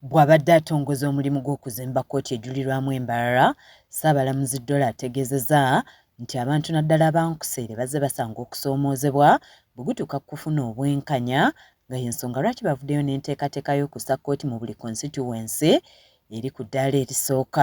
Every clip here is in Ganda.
Bw'abadde atongoza omulimu gw'okuzimba kkooti ejulirwamu e Mbarara, Ssaabalamuzi Dollo ategeezeza nti abantu naddala aba Nkuseere bazze basanga okusoomoozebwa bwe gutuuka ku kufuna obwenkanya nga y'ensonga lwaki bavuddeyo n'enteekateeka y'okussa kkooti mu buli konsitityuwensi eri ku ddaala erisooka.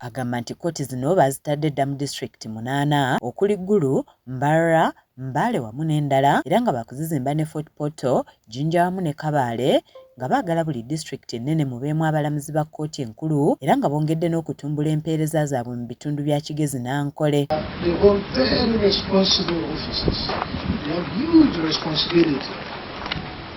Agamba nti kkooti zino baazitadde dda mu disitulikiti munaana okuli Gulu, Mbarara, Mbale wamu n'endala era nga baakuzizimba ne Fort Portal, Jinja wamu ne Kabale nga baagala buli disitulikiti ennene mubeemu abalamuzi ba kkooti enkulu era nga bongedde n'okutumbula empeereza zaabwe mu bitundu bya Kigezi n'Ankole.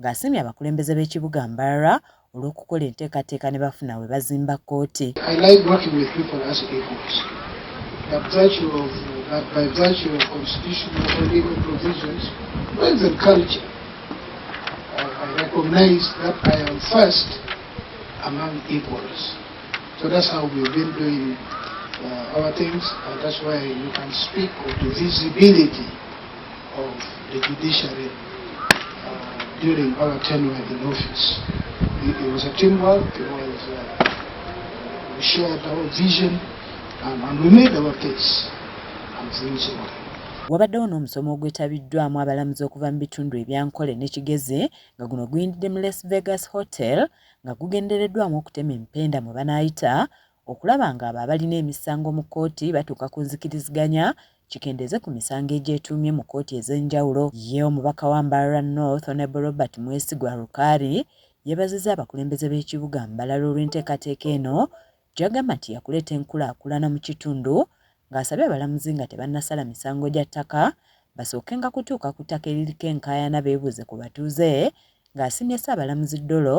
ng'asiimye abakulembeze b'ekibuga Mbarara olw'okukola enteekateeka ne bafuna we bazimba kkooti. So that's how we've been doing uh, our things, and that's why you can speak of divisibility. of the judiciary uh, during our tenure in office. It, it was a teamwork, it was, uh, we shared our vision and, and we made our case. And things were wabaddewo n'omusomo ogwetabiddwamu abalamuzi okuva mu bitundu ebyankole ne kigeze nga guno guyindidde mu las vegas hotel nga gugendereddwamu okutema empenda mwe banaayita okulaba ng'abo abalina emisango mu kkooti batuuka ku nzikiriziganya kikendeeze ku misango egyetuumye mu kkooti ez'enjawulo. Ye omubaka wa Mbarara North Honourable Robert Mwesigwa Rukari yebazizza abakulembeze b'ekibuga Mbalala olw'enteekateeka eno gyagamba nti yakuleeta enkulaakulana mu kitundu nga asabye abalamuzi nga tebannasala misango gya ttaka basookenga kutuuka ku ttaka eririko enkaayana beebuuze ku batuuze nga asiimye Ssaabalamuzi Dollo